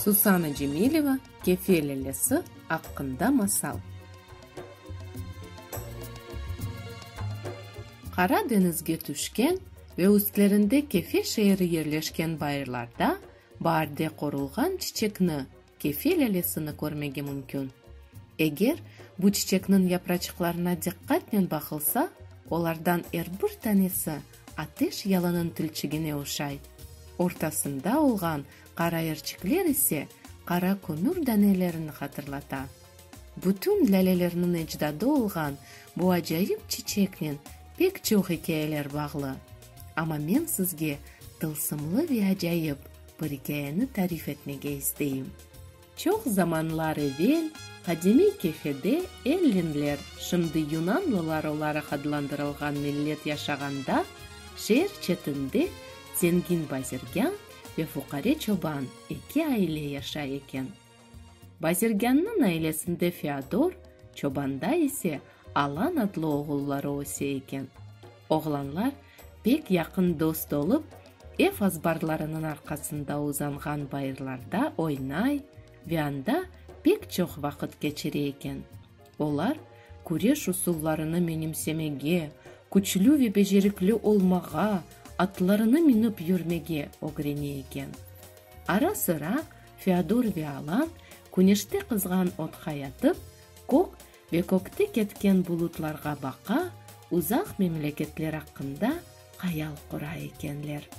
Susana Cemileva Kefe lâlesi aqqında masal. Qara deñizge tüşken ve üstlerinde Kefe şeeri yerleşken bayırlarda baarde qorulğan çiçekni, Kefe lâlesini körmege mümkün. Eger bu çiçekniñ yapraçıqlarına diqqatnen baqılsa, olardan er bir tanesi ateş yalınıñ tilçigine oşay, ortasında olğan qara erçikler ise qara kömür danelerini hatırlata. Bütün lâlelerniñ ecdadı olğan bu acayip çiçeknen pek çoq ikâyeler bağlı. Amma men sizge tılsımlı ve acayip. bir ikâyeni tarif etmege isteyim. Çoq zamanlar evel qadimiy kefede ellinler, şimdi yunanlılar olaraq adlandırılğan millet yaşağanda, şeer çetinde zengin bazirgân ve fuqare çoban eki aile yaşay eken. Bazirgânnıñ ailesinde Feodor, çobanda ise Alan adlı oğulları öse eken. Oğlanlar pek yaqın dost olıp, ev azbarlarınıñ arqasında uzanğan bayırlarda oynay ve anda pek çoq vaqıt keçire eken. Olar küreş usullarını menimsemege, küçlü ve becerikli olmağa, atlarını minip yürmege ögrene eken. Ara-sıra Feodor ve Alan küneşte qızğan otqa yatıp, kög ve kögte ketken bulutlarğa baqa, uzaq memleketler aqqında hayal qura ekenler.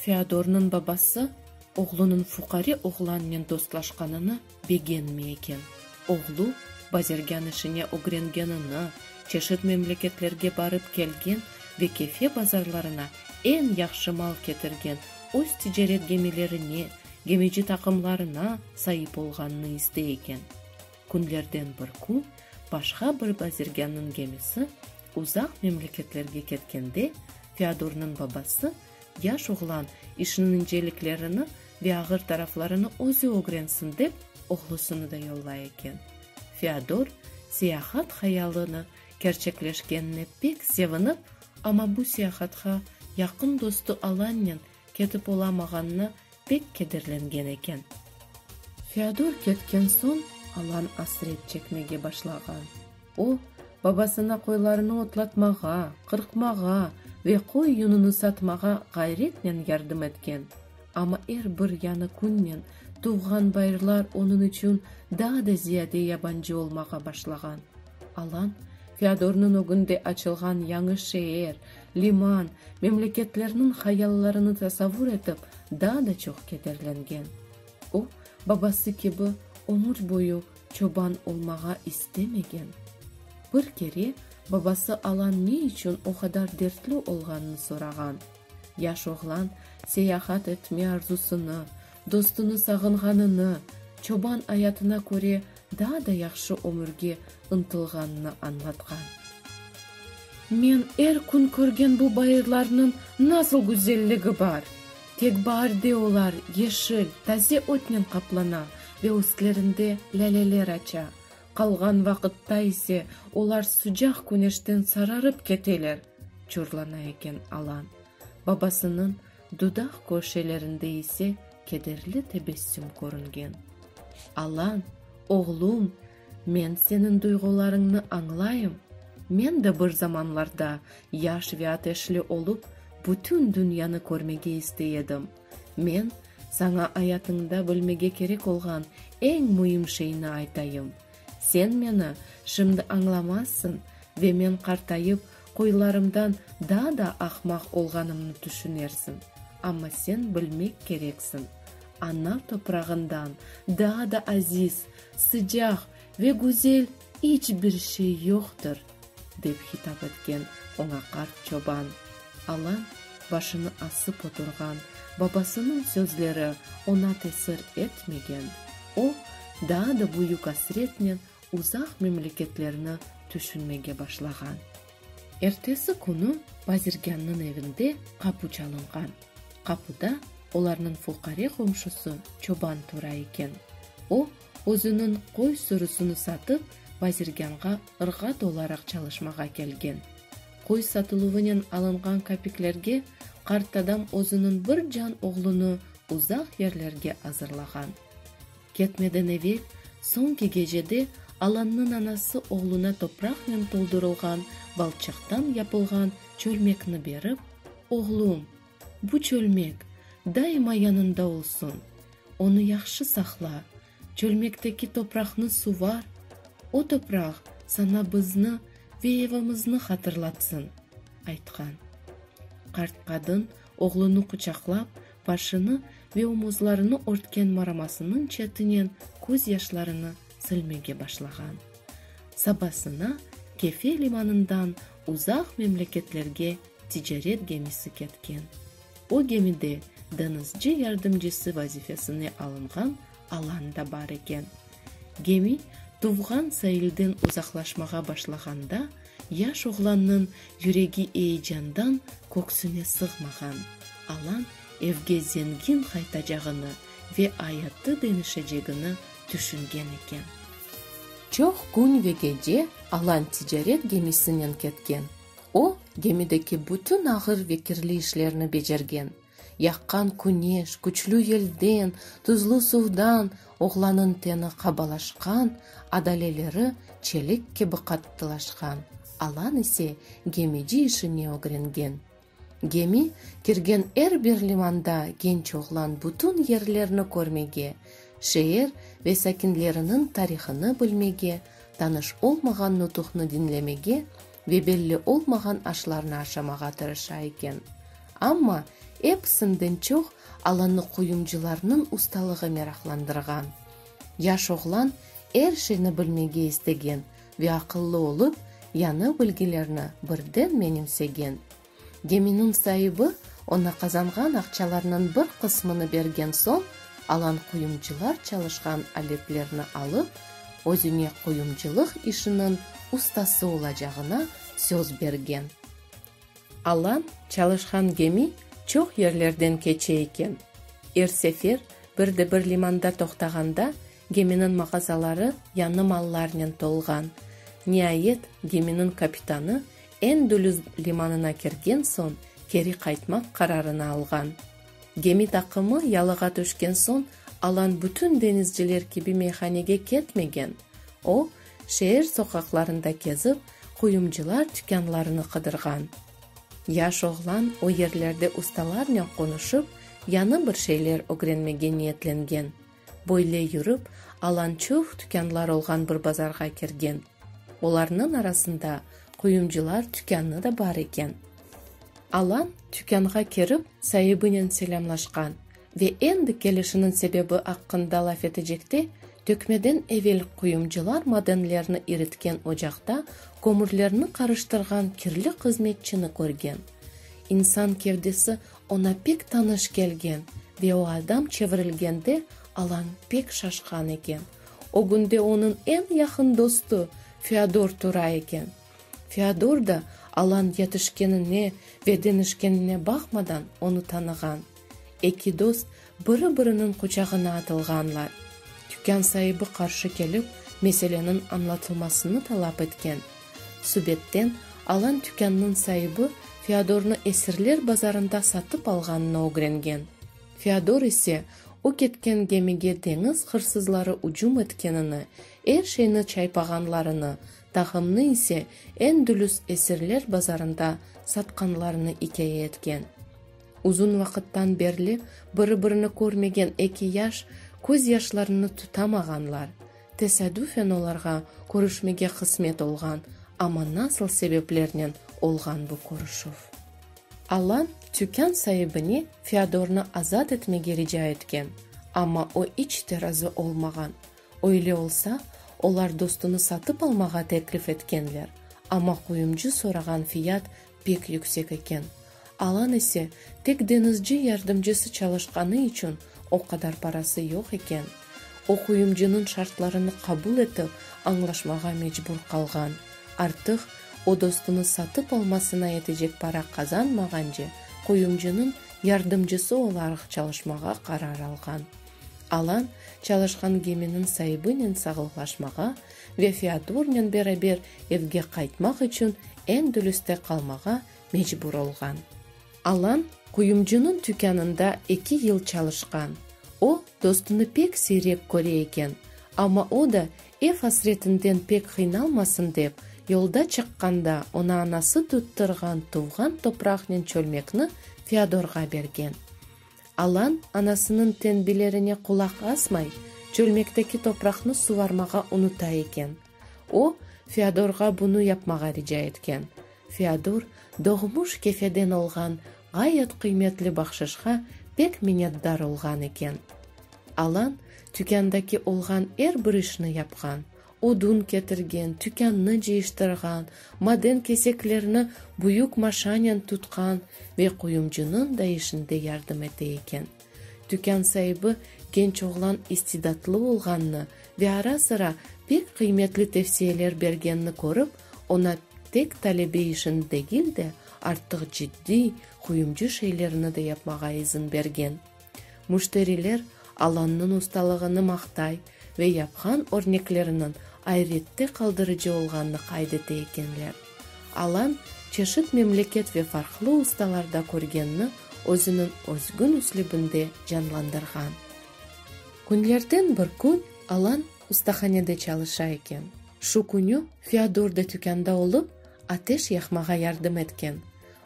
Feodornıñ babası oğlunıñ fuqare oğlannen dostlaşqanını begenmey eken. Oğlu bazirgân işine ögrengenini, çeşit memleketlerge barıp kelgen ve Kefe bazarlarına eñ yahşı mal ketirgen öz ticaret gemilerine, gemici taqımlarına saip olğanını istey eken. Künlerden bir kün başqa bir bazirgânnıñ gemisi uzaq memleketlerge ketkende, Feodornıñ babası, Yaş oğlan, işniñ inceliklerini ve ağır taraflarını özü ögrensin dep, oğlusını da yollay eken. Feodor, seyahat hayalını kerçekleşkenine pek sevinip, Amma bu siyahatqa yaqın dostu Alannen ketip olamağanına pek kederlengen eken. Feodor ketken soñ Alan asret çekmege başlağan. O, babasına qoylarını otlatmağa, qırqmağa ve qoy yununu satmağa ğayretnen yardım etken, amma er bir yañı künnen tuvğan bayırlar onıñ içün daa da ziyade yabancı olmağa başlağan. Alan, Feodornıñ ögünde açılğan yañı şeer, liman, memleketlerniñ hayallarını tasavvur etip, daa da çoq kederlengen. O, babası kibi, ömür boyu çoban olmağa istemegen. Bir kere babası Alan ne içün o qadar dertli olğanını sorağan. Yaş oğlan seyahat etme arzusını, dostunı sağınğanını, çoban ayatına köre, daa da yahşı ömürge ıntılğanını añlatqan. Men er kün körgen bu bayırlarnıñ nasıl güzelligi bar! Tek baar de olar yeşil, taze ötnen qaplana ve üstlerinde lâleler aça, qalğan vaqıtta ise olar sıcaq küneşten sararıp keteler, çorlana eken Alan, babasınıñ Dudaq köşelerinde ise kederli tebessüm körüngen. Alan, oğlum, men seniñ duyğularıñnı añlayım. Men de bir zamanlarda yaş ve ateşli olıp, bütün dünyanı körmege istey edim. Men saña ayatıñda bilmege kerek olğan eñ müim şeyni aytayım. Sen meni şimdi añlamazsıñ ve men qartayıp, Qoylarımdan daa da ahmaq olğanımnı tüşünersiñ, amma sen bilmek kereksiñ, ana toprağından daa da aziz, sıcaq ve güzel iç bir şey yoqtır, dep hitap etken oña qart çoban. Alan başını asıp oturğan babasınıñ sözleri oña tesir etmegen, o, daa da büyük asretnen uzaq memleketlerni tüşünmege başlağan. Ertesi künü bazirgânnıñ evinde qapu çalınğan. Qapuda olarnıñ fuqare qomşusı çoban tura eken. O, özüniñ qoy sürüsini satıp, bazirgânğa ırğat olaraq çalışmağa kelgen. Qoy satıluvınen alınğan kapiklerge qartadam özüniñ bir can oğlunı uzaq yerlerge azırlağan. Ketmeden evel, soñki gecede Alannıñ anası oğluna topraqnen toldurılğan balçıqtan yapılğan çölmekni berip, Oğlum, bu çölmek daima yanında olsun, onı yahşı saqla, çölmekteki topraqnı suvar, o topraq saña bizni ve evimizni hatırlatsın, aytqan. Qart qadın oğlunı quçaqlap, Başını ve omuzlarını örtken maramasınıñ çetinen köz yaşlarını silmege başlağan. Sabasına Kefe limanından uzaq memleketlerge ticaret gemisi ketken. O gemide deñizci yardımcısı vazifesine alınğan Alan da bar eken. Gemi tuvğan sailden uzaqlaşmağa başlağanda, yaş oğlannıñ yüregi eyecandan köksüne sığmağan. Alan evge zengin qaytacağını ve ayatı denişecegini tüşüngen eken. Çoq kün ve gece Alan ticaret gemisinen ketken. O, gemideki bütün ağır ve kirli işlerni becergen. Yaqqan küneş, küçlü yelden, tuzlu suvdan oğlanıñ teni qabalaşqan, adaleleri çelik kibi qattılaşqan, alan ise gemici işine ögrengen. Gemi kirgen er bir limanda genç oğlan bütün yerlerni körmege, şeer ve sakinleriniñ tarihını bilmege, tanış olmağan nutuqnı diñlemege ve belli olmağan aşlarnı aşamağa tırışa eken. Amma, episinden çoq, alanı qoyumcılarnıñ ustalığı meraqlandırğan. Yaş oğlan er şeyni bilmege istegen ve aqıllı olıp, yañı bilgilerni birden menimsegen. Geminiñ saibi oña qazanğan aqçalarnıñ bir qısmını bergen soñ, alan quyumcılar çalışqan aletlerni alıp, özüne quyumcılıq işiniñ ustası olacağına söz bergen. Alan çalışqan gemi çoq yerlerden keçe eken. Er sefer bir de bir limanda toqtağanda, Geminiñ mağazaları yañı mallarnen tolğan. Niayet, geminiñ kapitanı Endülüs limanına kirgen soñ, keri qaytmaq qararını alğan. Gemi taqımı yalığa tüşken soñ, alan bütün deñizciler kibi meyhanege ketmegen. O, şeer soqaqlarında kezip, quyumcılar tükânlarını qıdırğan. Yaş oğlan o yerlerde ustalarnen qonuşıp, yañı bir şeyler ögrenmege niyetlengen. Böyle yürip, Alan çoq tükânlar olğan bir bazarğa kirgen. Olarnıñ arasında quyumcılar tükânı da bar eken. Alan tükânğa kirip, saibinen selâmlaşqan ve endi kelişiniñ sebebi aqqında laf etecekte, tökmeden evel quyumcılar madenlerni iritken ocaqta kömürlerni qarıştırğan kirli qızmetçini körgen. İnsan kevdesi Oña pek tanış kelgen ve o adam çevirilgende Alan pek şaşqan eken. O günde onıñ eñ yaqın dostu Feodor tura eken. Feodor da Alan yetişkenine ve deñişkenine baqmadan onı tanığan. Eki dost Biri-biriniñ quçağına atılğanlar. Tükân saibi qarşı kelip, meseleniñ añlatılmasını talap etken. Subedten, alan tükânnıñ saibi Feodornı esirler bazarında satıp alğanını ögrengen. Feodor ise, o ketken gemige deñiz hırsızları ücüm etkenini, er şeyni çaypağanlarını, tağımnı ise Endülüs esirler bazarında satqanlarını ikâye etken. Uzun vaqıttan berli biri-birini körmegen eki yaş köz yaşlarını tutamağanlar. Tesadüfen olarğa körüşmege qısmet olğan, amma nasıl sebeplernen olğan bu körüşüv? Alan tükân saibine Feodornı azat etmege rica etken, amma o iç te razı olmağan. Öyle olsa, olar dostunı satıp almağa teklif etkenler, amma qoyumcı sorağan fiyat pek yüksek eken, Alan ise tek deñizci yardımcısı çalışqanı içün o qadar parası yoq eken, o quyumcınıñ şartlarını qabul etip añlaşmağa mecbur qalğan, artıq o dostunı satıp almasına yetecek para qazanmağance quyumcınıñ yardımcısı olaraq çalışmağa qarar alğan. Alan çalışqan geminiñ saibinen sağlıqlaşmağa Ve Feodornen beraber evge qaytmaq içün Endülüste qalmağa mecbur olğan. Alan quyumcunıñ tükânında eki yıl çalışqan. O, dostunı pek siyrek köre eken, amma o da, ev asretinden pek qıynalmasın dep, yolda çıqqanda oña anası tuttırğan tuvğan topraqnen çölmekni Feodorğa bergen. Alan, anasınıñ tenbilerine qulaq asmay, çölmekteki topraqnı suvarmağa unuta eken. O, Feodorğa bunı yapmağa rica etken. Feodor, doğmuş Kefeden olğan ğayet qıymetli bahşışqa pek minnetdar olğan eken. Alan, tükândaki olğan er bir işni yapqan, Odun ketirgen, tükânnı cıyıştırğan, maden keseklerini büyük maşanen tutqan ve quyumcınıñ da işinde yardım ete eken. Tükân saibi genç oğlan istidatlı olğanını ve ara-sıra pek qıymetli tevsiyeler bergenini körip, oña tek talebe işini degil de, artıq ciddiy, quyumcı şeylerni de yapmağa izin bergen. Müşteriler Alannıñ ustalığını maqtay ve yapqan örnekleriniñ ayrette qaldırıcı olğanını qayd ete ekenler. Alan çeşit memleket ve farqlı ustalarda körgenni özüniñ özgün üslübinde canlandırğan. Künlerden bir kün Alan ustahanede çalışa eken. Şu künü Feodor da tükânda olıp, ateş yaqmağa yardım etken.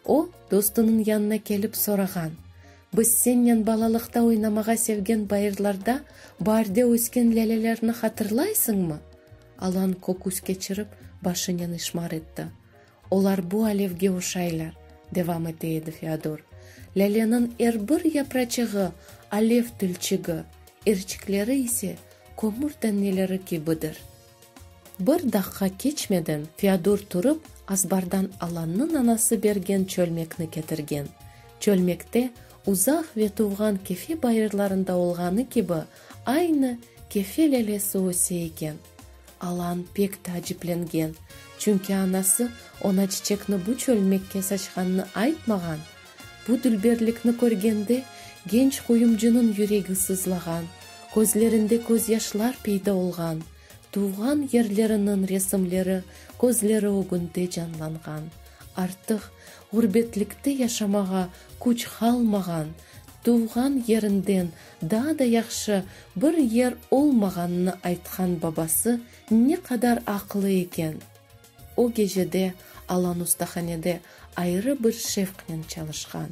O, dostunıñ yanına kelip sorağan. Biz sennen balalıqta oynamağa sevgen bayırlarda baarde ösken lâlelerni hatırlaysıñmı? Alan köküs keçirip, başınen işmar etti. Olar bu alevge oşaylar, devam ete edi Feodor. Lâleniñ er bir yapraçığı alev tülçigi, erçikleri ise kömür daneleri kibidir. Bir daqqa keçmeden Feodor turıp, azbardan Alannıñ anası bergen çölmekni ketirgen. Çölmekte uzaq ve tuvğan Kefe bayırlarında olğanı kibi aynı Kefe lelesi öse eken. Alan pek taaciplengen, çünki anası oña çiçekni bu çölmekke saçqanını aytmağan, Bu dülberlikni körgende, genç qoyumcınıñ yüregi sızlağan, közlerinde közyaşlar peyda olğan, tuvğan yerleriniñ resimleri közleri ögünde canlanğan, artıq ğurbetlikte yaşamağa küç qalmağan, tuvğan yerinden daa da yahşı bir yer olmağanını aytqan babası ne qadar aqlı eken! O gecede Alan ustahanede ayrı bir şevqnen çalışqan.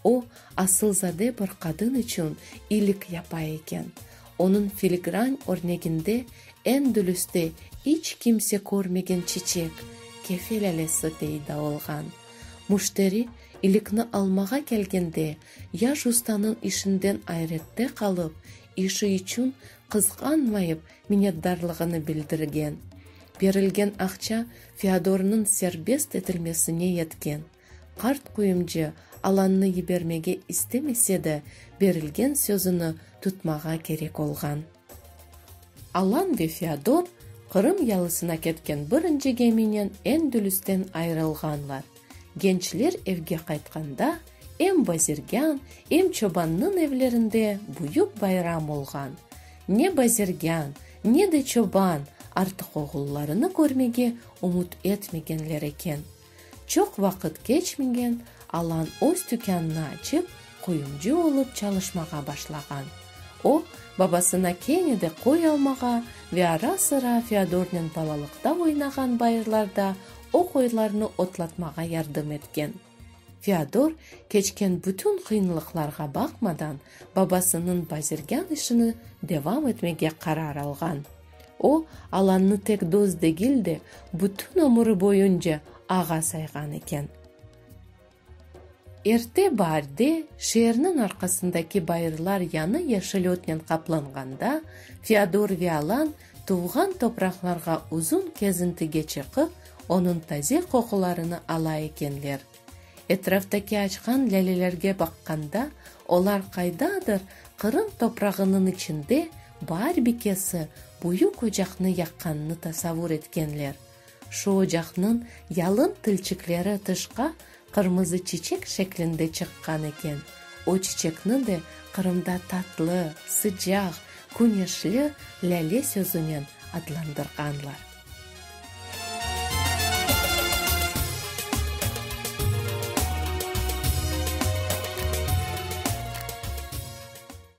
O, asılzade bir qadın içün iyilik yapa eken. Onıñ filigran örneginde eñ dülüste iç kimse körmegen çiçek, kefe lâlesi peyda olğan. Müşteri iyilikni almağa kelgende, yaş ustanıñ işinden ayrette qalıp, işi içün qızğanmayıp, minnetdarlığını bildirgen. Berilgen aqça Feodornıñ serbest etilmesine yetken. Qart quyumcı alannı yibermege istemese de, berilgen sözüni tutmağa kerek olğan. Alan ve Feodor Qırım yalısına ketken birinci geminen Endülüsten ayırılğanlar. Gençler evge qaytqanda, em bazirgân, em çobannıñ evlerinde büyük bayram olğan. Ne bazirgân, ne de çoban artıq oğullarını körmege ümüt etmegenler eken. Çoq vaqıt keçmegen, Alan öz tükânını açıp, Qoyuncı olıp çalışmağa başlağan. O, babasına kene de köy almağa ve ara-sıra Feodornen balalıqta oynağan bayırlarda o qoylarnı otlatmağa yardım etken. Feodor, keçken bütün qıyınlıqlarğa baqmadan, babasınıñ bazirgân işini devam etmege qarar alğan. O, Alannı tek dost degil de, bütün ömüri boyunca ağa sayğan eken. Erte baarde şeerniñ arqasındaki bayırlar yanı yeşil ötnen qaplanğanda, Feodor Vialan tuvğan topraqlarğa uzun kezintige çıqıp, onıñ taze qoqularını ala ekenler. Etraftaki açqan lâlelerge baqqanda, olar qaydadır Qırım toprağınıñ içinde baarbikesi büyük ocaqnı yaqqannı tasavur etkenler. Şu ocaqnıñ yalın tilçikleri tışqa qırmızı çiçek şeklinde çıqqan eken. O çiçekni de Qırımda tatlı, sıcaq, küneşli lâle sözünen adlandırğanlar.